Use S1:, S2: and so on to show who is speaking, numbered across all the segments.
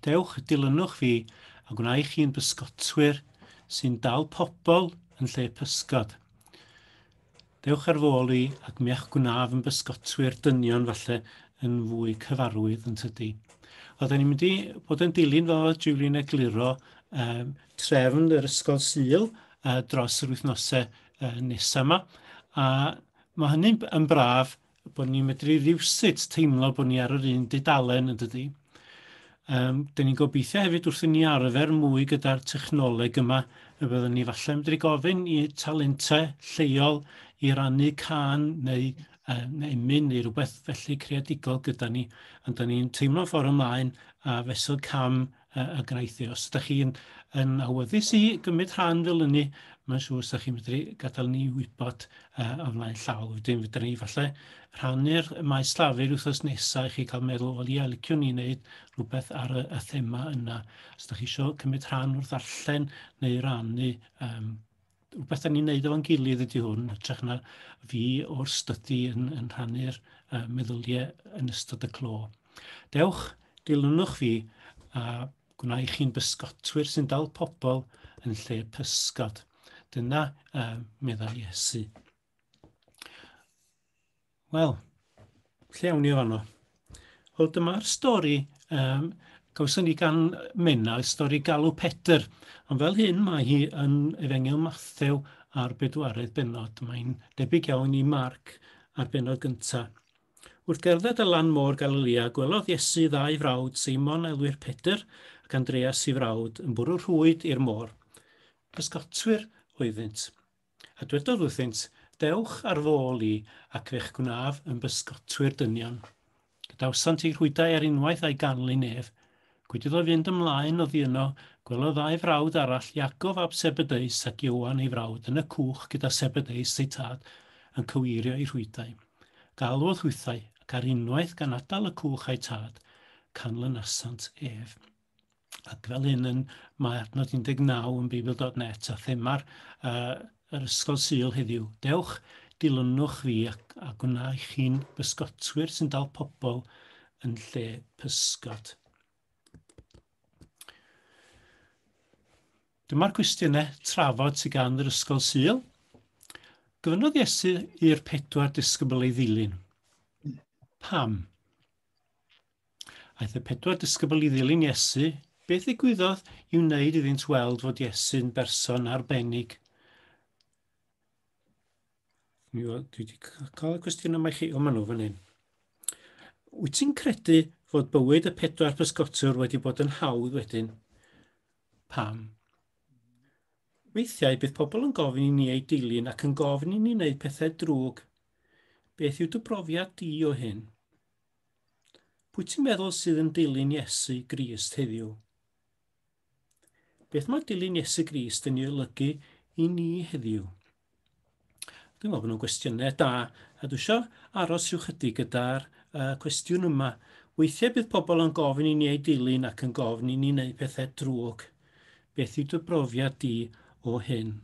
S1: Dewch, dilynwch fi, a gwna i chi'n bysgotwyr sy'n dal pobl yn lle pysgod. Dewch ar fôl i, ac mi a'ch gwnaf yn bysgotwyr dynion falle yn fwy cyfarwydd yn tydi. Wel, da ni'n mynd i bod yn dilyn fel oedd Julian egluro um, trefn yr ysgol syl uh, dros yr wythnosau uh, nesaf yma. A mae hynny'n yn braf bod ni'n medru rywsut teimlo bod ni ar yr un dudalen yn dydy. Um, Dyn ni'n gobeithio hefyd wrth i ni arfer mwy gyda'r technoleg yma, y byddwn ni falle yn medru gofyn i talentau lleol i rannu can neu um, emyn neu rhywbeth felly creadigol gyda ni, ond da ni'n teimlo ffordd ymlaen a fesul cam y graith e. Os ydych chi'n yn awyddus i gymryd rhan fel yny, mae'n siŵr os ydych chi'n medru gadael ni wybod uh, o flaen llaw. Wedyn fydden ni falle rhannu'r maes llafur wythnos nesaf i chi cael meddwl, o ia, liciwn ni wneud rhywbeth ar y, y thema yna. Os ydych chi eisiau cymryd rhan wrth ddarllen neu rannu um, rhywbeth da ni'n neud efo'n gilydd ydy hwn, ytrach na fi o'r stydi yn, yn rhannu'r uh, meddyliau yn ystod y clo. Dewch, dilynwch fi a gwna i chi'n bysgotwyr sy'n dal pobl yn lle pysgod. Dyna uh, meddai Iesu. Wel, lle awn ni o fanno? Wel, dyma'r stori um, gawson ni gan Menna, y stori Galw Pedr. Ond fel hyn, mae hi yn Efengil Mathew a'r bedwaredd benod. Mae'n debyg iawn i Marc a'r benod gyntaf. Wrth gerdded y lan môr Galilea, gwelodd Iesu ddau frawd, Seimon a elwir Pedr, ac Andreas i frawd, yn bwrw rhwyd i'r môr. Pysgotwyr oeddynt. A dwedodd wrthynt, Dewch ar fôl i, ac fe'ch gwnaf yn bysgotwyr dynion. Gadawsant eu rhwydau ar unwaith a'i ganlyn ef. Gwyd iddo fynd ymlaen oddi yno, gwelodd ddau frawd arall, Iacob ab Sebedeus ac Ioan ei frawd, yn y cwch gyda Sebedeus eu tad, yn cyweirio eu rhwydau. Galwodd hwythau, ac ar unwaith gan adael y cwch a'u tad, canlynasant ef. Ac fel hyn yn, mae adnod 19 yn Beibl.net a thema'r uh, yr Ysgol Sul heddiw. Dewch, dilynwch fi ac, a gwna i chi'n bysgotwyr sy'n dal pobl yn lle pysgod. Dyma'r cwestiynau trafod sy'n gan yr Ysgol Sul. Gofynodd Iesu i'r pedwar disgybl ei ddilyn. Pam? Aeth y pedwar disgybl i ddilyn Iesu. Beth ddigwyddodd i wneud iddynt weld fod Iesu'n berson arbennig? Mi oedd, dwi wedi cael y cwestiwn yma i chi, o maen nhw fan hyn. Wyt ti'n credu fod bywyd y pedwar pysgotwr wedi bod yn hawdd wedyn? Pam? Weithiau bydd pobl yn gofyn i ni ei dilyn ac yn gofyn i ni wneud pethau drwg. Beth yw dy brofiad di o hyn? Pwy ti'n meddwl sydd yn dilyn Iesu Grist heddiw? Beth mae dilyn Iesu Grist yn ei olygu i ni heddiw? Dwi'n meddwl bod nhw'n gwestiynau da, a dwi eisiau aros rhyw chydig gyda'r uh, cwestiwn yma. Weithiau bydd pobl yn gofyn i ni ei dilyn ac yn gofyn i ni wneud pethau drwg. Beth yw dy brofiad di o hyn?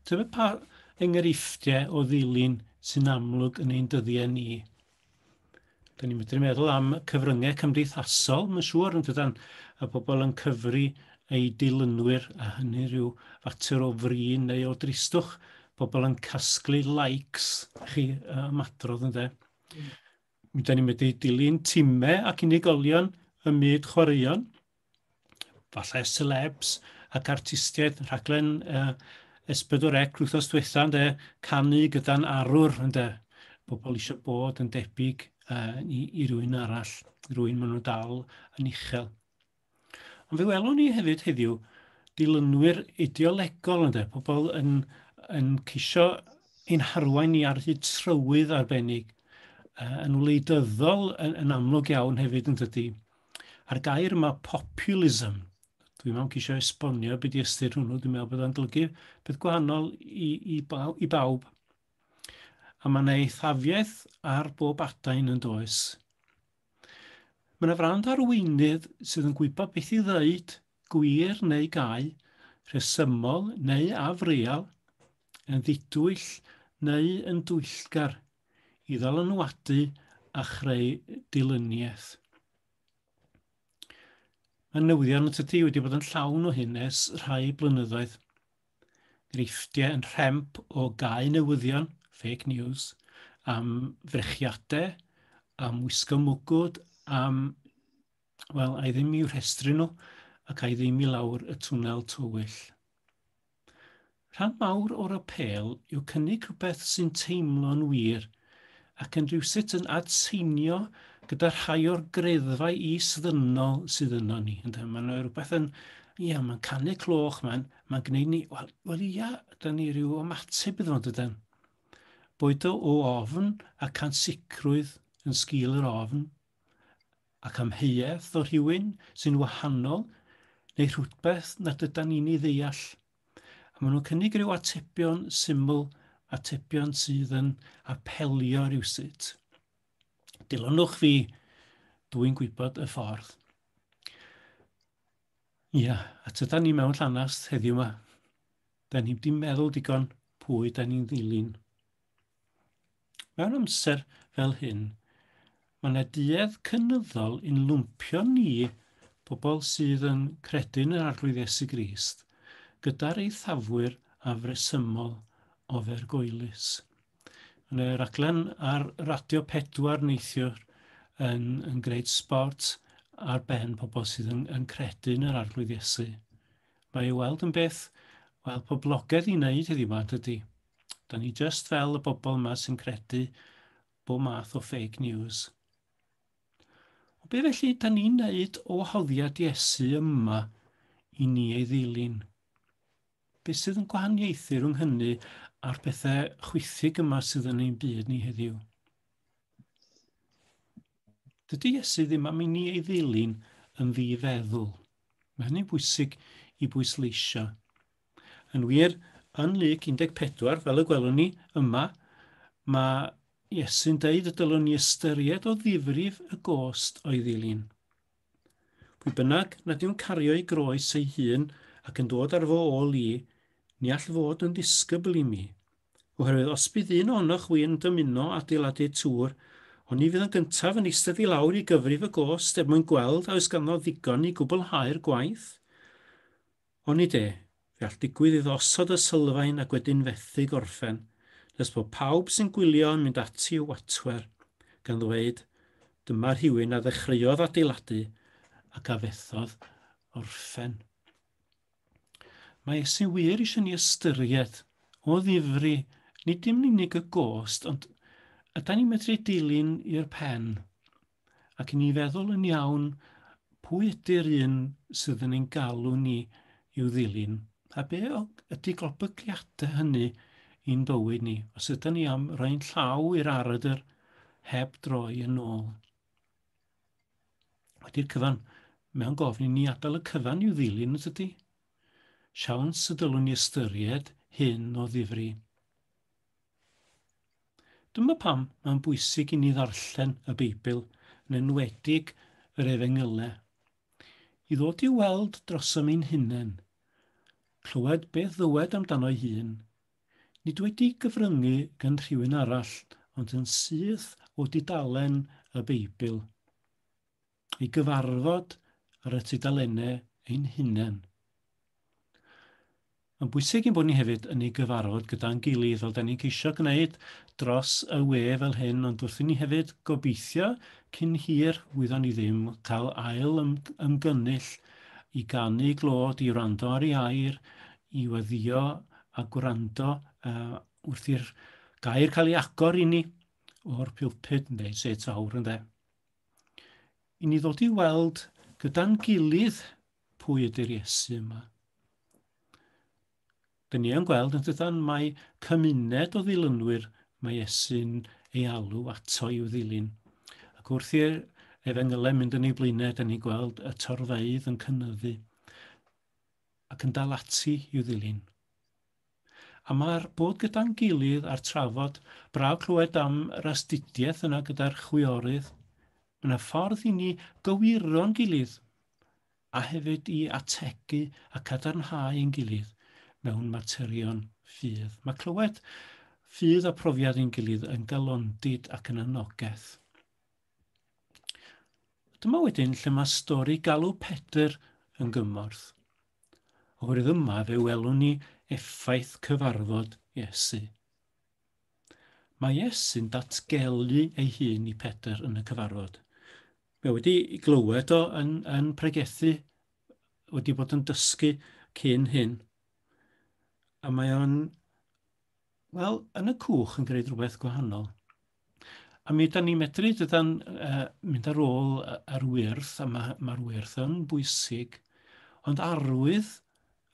S1: Tybed pa enghreifftiau o ddilyn sy'n amlwg yn ein dyddiau ni? Da ni'n medru meddwl am cyfryngau cymdeithasol, mae'n siŵr, yn dydan, a pobl yn cyfri ei dilynwyr, a hynny rhyw fater o frin neu o dristwch, pobl yn casglu likes, chi, ymadrodd yn dde. Mm. Da ni'n medru dilyn timau ac unigolion ym myd chwaraeon, falle celebs ac artistiaid rhaglen uh, Esbydwr Ec rwythos diwetha ynde, canu gyda'n arwr ynde. Pobl eisiau bod yn debyg uh, i, i rywun arall, rwy'n maen nhw dal yn uchel. Ond fe welwn ni hefyd heddiw dilynwyr ideolegol ynde, pobl yn, yn ceisio ein harwain ni ar hyd trywydd arbennig, uh, yn wleidyddol yn, yn amlwg iawn hefyd yn dydy. A'r gair yma, populism, dwi'n meddwl ceisio esbonio beth i ystyr hwnnw, dwi'n meddwl bod o'n golygu peth gwahanol i, i, bawb, i bawb. A mae yna eithafiaeth ar bob adain yn does. Mae yna frand arweinydd sydd yn gwybod beth i ddeud, gwir neu gau, rhesymol neu afreal, yn ddidwyll neu yn dwyllgar i ddylanwadu a chreu dilyniaeth. Mae newyddion y tydi wedi bod yn llawn o hyn ers rhai blynyddoedd. Greifftiau yn rhemp o gau newyddion, fake news, am frechiadau, am wisgo mwgwd, am, wel, ai ddim i'w rhestru nhw ac ai ddim i lawr y twnel tywyll. Rhan mawr o'r apêl yw cynnig rhywbeth sy'n teimlo'n wir ac yn rhywsut yn adseinio gyda rhai o'r greddfau is-ddynol sydd yno ni. Ynde? Mae'n rhywbeth yn, ia, mae'n canu cloch, mae'n mae gwneud ni, wel, wel ia, da ni rhyw ymateb iddo fo, dydyn. Boed o o ofn ac ansicrwydd yn sgil yr ofn, ac amheuaeth o rhywun sy'n wahanol neu rhywbeth nad ydan ni'n ei ddeall, a maen nhw'n cynnig rhyw atebion syml, atebion sydd yn apelio rywsut. Dilynwch fi, dw i'n gwybod y ffordd. Ia, a tydan ni mewn llanast heddiw yma. Da ni'n di meddwl digon pwy da ni'n ddilyn. Mewn amser fel hyn, mae yna duedd cynyddol yn lwmpio ni, pobl sydd yn credu yn yr Arglwydd Iesu Grist, gyda'r eithafwyr afresymol ofergoelus. Yn y raglen ar Radio 4 neithiwr yn, yn gwneud sport ar ben pobl sydd yn, yn credu yn yr Arglwydd Iesu. Mae ei weld yn beth, wel, poblogaidd i wneud heddiw ma, dydy. Da ni just fel y bobl yma sy'n credu bo math o fake news. O be felly da ni'n neud o wahoddiad Iesu yma i ni ei ddilyn? Be sydd yn gwahaniaethu rhwng hynny a'r pethau chwythig yma sydd yn ein byd ni heddiw? Dydy Iesu ddim am i ni ei ddilyn yn ddifeddwl. Mae hynny'n bwysig i bwysleisio. Yn wir, yn Luc 14, fel y gwelwn ni yma, mae Iesu'n deud y dylwn ni ystyried o ddifrif y gost o'i ddilyn. Pwy bynnag nad yw'n cario ei groes ei hun ac yn dod ar fo ôl i, ni all fod yn ddisgybl i mi. Oherwydd os bydd un ohonoch wi'n dymuno adeiladu tŵr, ond ni fydd yn gyntaf yn eistedd i lawr i gyfrif y gost er mwyn gweld a oes ganddo ddigon i gwblhau'r gwaith, Onid e, fe all digwydd iddo osod y sylfaen ac wedyn fethu gorffen, nes bod pawb sy'n gwylio yn mynd ati i'w watwer, gan ddweud, Dyma rhywun a ddechreuodd adeiladu ac a fethodd orffen. Mae Iesu wir eisiau ni ystyried, o ddifri, nid dim yn unig y gost, ond yda ni'n medru ei dilyn i'r pen. ac i ni feddwl yn iawn pwy ydy'r un sydd yn ein galw ni i'w ddilyn, a be ydy golbygiadau hynny i'n bywyd ni, os ydyn ni am roi'n llaw i'r aradr heb droi yn ôl. Wedi'r cyfan, mewn gofyn i ni adael y cyfan i'w ddilyn, os ydy? Siawns y dylwn ni ystyried hyn o ddifri. Dyma pam mae'n bwysig i ni ddarllen y Beibl, yn enwedig yr Efengylau, i ddod i weld drosom ein hunain, clywed beth ddywed amdano'i hun, nid wedi gyfryngu gan rhywun arall ond yn syth o dudalen y Beibl. i gyfarfod ar y tudalennau ein hunain. Mae'n bwysig i'n bod ni hefyd yn ei gyfarfod gyda'n gilydd, fel da ni'n ceisio gwneud dros y we fel hyn, ond wrth i ni hefyd gobeithio cyn hir wyddon ni ddim cael ail ymgynnull i ganu glod, i wrando ar ei air, i weddio a gwrando uh, wrth i'r gair cael ei agor i ni o'r pulpud, neu set awr yn dde. i ni ddod i weld gyda'n gilydd pwy ydy'r Iesu yma. Dyn ni yn gweld yn dydan mae cymuned o ddilynwyr mae Iesu'n ei alw ato i'w ddilyn. Ac wrth i'r efengylau mynd yn ei blaenau, dyn ni'n gweld y torfeidd yn cynnyddu ac yn dal ati i'w ddilyn. A ma'r bod gyda'n gilydd a'r trafod, braf clywed am yr astudiaeth yna gyda'r chwiorydd. Mae 'na ffordd i ni gywiro'n gilydd a hefyd i ategu a cadarnhau ein gilydd mewn materion ffydd. Mae clywed ffydd a profiad ein gilydd yn galondid ac yn anogaeth. Dyma wedyn lle mae stori galw Pedr yn gymorth. o'r yma fe welwn ni effaith cyfarfod Iesu. Mae Iesu'n datgelu ei hun i Pedr yn y cyfarfod. Mae wedi glywed o yn, yn pregethu, wedi bod yn dysgu cyn hyn. A mae o'n, wel, yn y cwch yn gwneud rhywbeth gwahanol. A mi ydan ni'n medru dydan uh, mynd ar ôl yr wyrth, a mae'r ma, ma wyrth yn bwysig, ond arwydd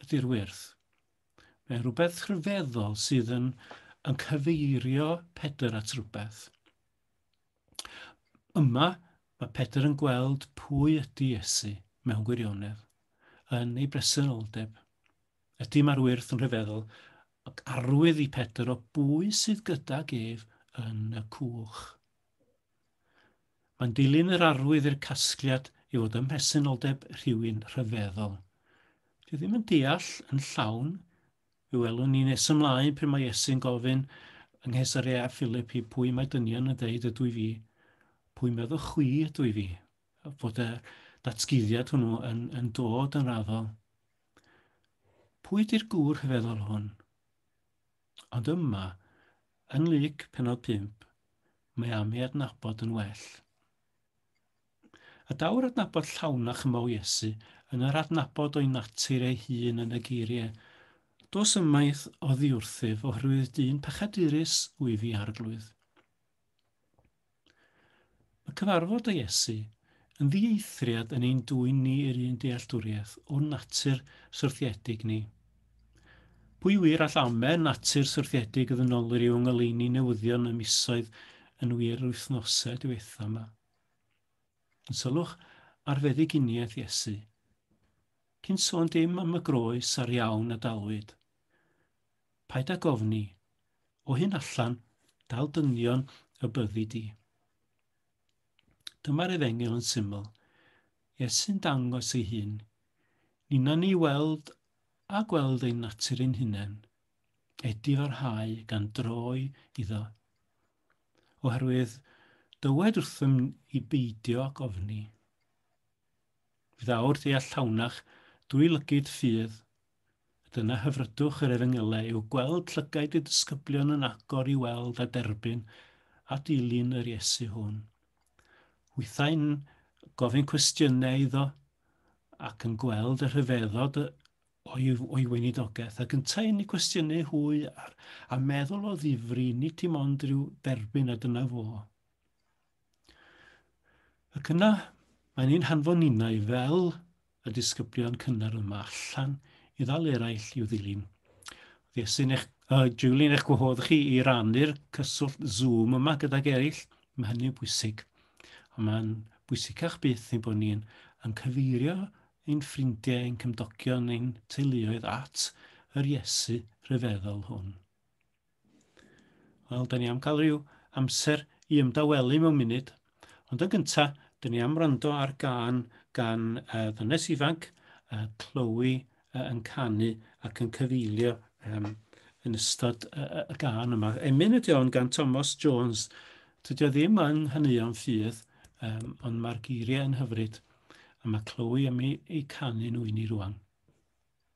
S1: ydy'r wyrth. Mae'n rhywbeth rhyfeddol sydd yn, yn cyfeirio Pedr at rhywbeth. Yma, mae Pedr yn gweld pwy ydy Iesu mewn gwirionedd, yn ei bresenoldeb. Y dim ar wyrth yn rhyfeddol, ac arwydd i Pedr o bwy sydd gydag ef yn y cwch. Mae'n dilyn yr arwydd i'r casgliad i fod ym mhresenoldeb rhywun rhyfeddol. Dwi ddim yn deall yn llawn, fe welwn ni nes ymlaen pryd mae Iesu'n gofyn yng Nghesaria a Philip i pwy mae dynion yn dweud ydw i fi, pwy meddwch chwi ydw i fi, fod y datguddiad hwnnw yn, yn dod yn raddol. Pwy di'r gŵr rhyfeddol hwn? Ond yma, yng Nglyc penod 5, mae am ei adnabod yn well. A daw'r adnabod llawn a chymau Iesu yn yr adnabod o'i natur ei hun yn y geiriau, Dos ymaith oddiwrthyf oherwydd dyn pechadurus wyf i, Arglwydd. Mae cyfarfod â Iesu yn ddieithriad yn ein dwyn ni i'r un dealltwriaeth o'n natur syrthiedig ni. Pwy wir all amen natur syrthiedig y ddynolwyr i'w ngoleuni newyddion y misoedd yn wir yr wythnosau diwetha yma? Yn sylwch ar feddyginiaeth Iesu. Cyn sôn dim am y groes a'r iawn a dalwyd. Paid â gofni. O hyn allan, dal dynion y byddi di. Dyma'r efengyl yn syml. Iesu'n dangos ei hun. Nina ni weld a gweld ein natur ein hunain. Edi farhau gan droi iddo. Oherwydd dywed wrthym i beidio ac ofni. Fydd awr deall llawnach dwy lygyd ffydd Dyna hyfrydwch yr efengylau yw gweld llygaid y disgyblion yn agor i weld a derbyn a dilyn yr Iesu hwn. Hwythau'n gofyn cwestiynau iddo ac yn gweld y rhyfeddod o'i, o'i weinidogaeth ac yntau yn ei cwestiynau hwy ar, a meddwl o ddifri, nid dim ond rhyw derbyn a dyna fo. Ac yna, mae'n ein hanfon ninnau fel y disgyblion cynnar yma allan i ddal eraill i'w ddilyn. Ddiesu'n eich, uh, Julian, eich gwahodd chi i rannu'r cyswllt Zoom yma gydag eraill. Mae hynny'n bwysig. A mae'n bwysicach byth ein bod ni'n yn cyfeirio ein ffrindiau, ein cymdogion, ein teuluoedd at yr Iesu rhyfeddol hwn. Wel, da ni am cael rhyw amser i ymdawelu mewn munud. Ond yn gynta, dyn ni am wrando ar gan gan uh, ddynes ifanc, uh, Chloe, uh, yn canu ac yn cyfeilio um, yn ystod uh, y gan yma. Emyn ydy o'n gan Thomas Jones. Dydy o ddim yn hynny o'n ffydd, um, ond mae'r geiriau yn hyfryd. A mae Chloe am ei, ei canu nhw i ni rwan.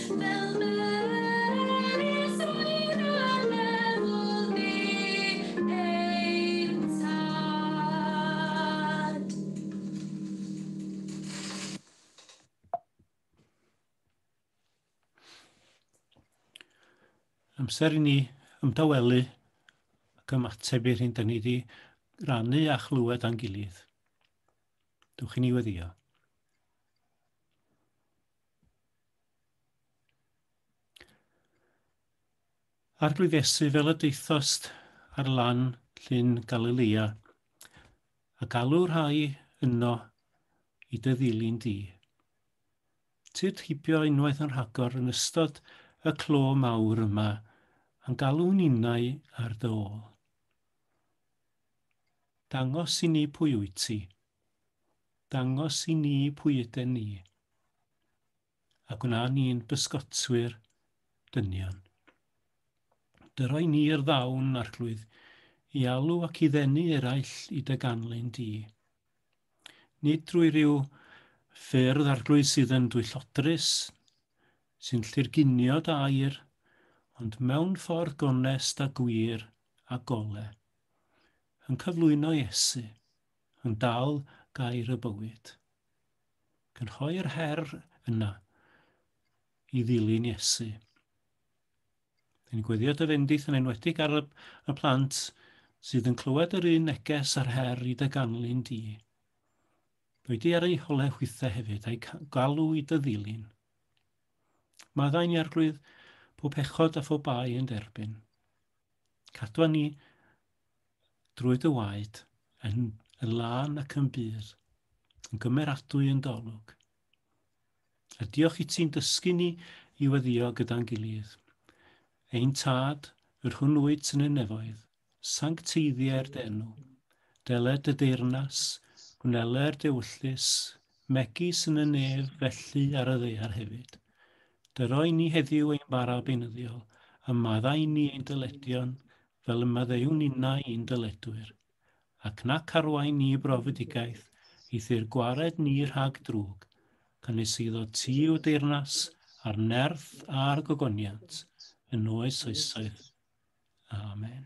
S1: Fel melys oer anelwol fu ein tad. Amser i ni ymdawelu ac ymateb i'r hyn da ni wedi rannu a chlywed a'n gilydd. Dwch i ni weddio. Arglwyddesu fel y daethost ar lan llyn Galilea, a galw rhai yno i dy ddilyn di. Tyd hibio unwaith yn rhagor yn ystod y clo mawr yma, a'n galw ninnau ar dy ôl. Dangos i ni pwy wyt ti. dangos i ni pwy yden ni, a gwna ni'n bysgotwyr dynion. Dyroi ni'r ddawn, arglwydd, i alw ac i ddenu eraill i dy ganlyn di. Nid drwy ryw ffyrdd arglwydd sydd yn dwyllodrus, sy'n llurgunio dair, ond mewn ffordd gonest a gwir a gole, yn cyflwyno Iesu, Yn dal gair y bywyd. Cynhoi'r her yna i ddilyn Iesu. Yn gweddio dy fendith yn enwedig ar y, y plant sydd yn clywed yr un neges a'r her i dy ganlyn di. Dwi di ar ei hole hwythe hefyd a'i galw i dy ddilyn. Maddau'n iarglwydd pob pechod a phob bai yn derbyn. Cadwa ni drwy dy waed, yn, yn lân ac yn bur, yn gymeradwy yn dolwg. A diolch i ti'n dysgu ni i weddio gyda'n gilydd. Ein tad, yr hwn wyt yn y nefoedd, sancteiddie'r denw, deled y deyrnas, gwnele'r dewyllus, megis yn y nef felly ar y ddeiar hefyd. Dyro i ni heddiw ein bara beinyddiol, a maddau ni ein dyledion, fel y maddeuwn innau i'n dyledwyr, ac nac arwain ni i brofedigaeth, eithr gwared ni rhag drwg, cynys iddo ti yw deyrnas, a'r nerth, a'r gogoniant, yn oes oesoedd. Amen.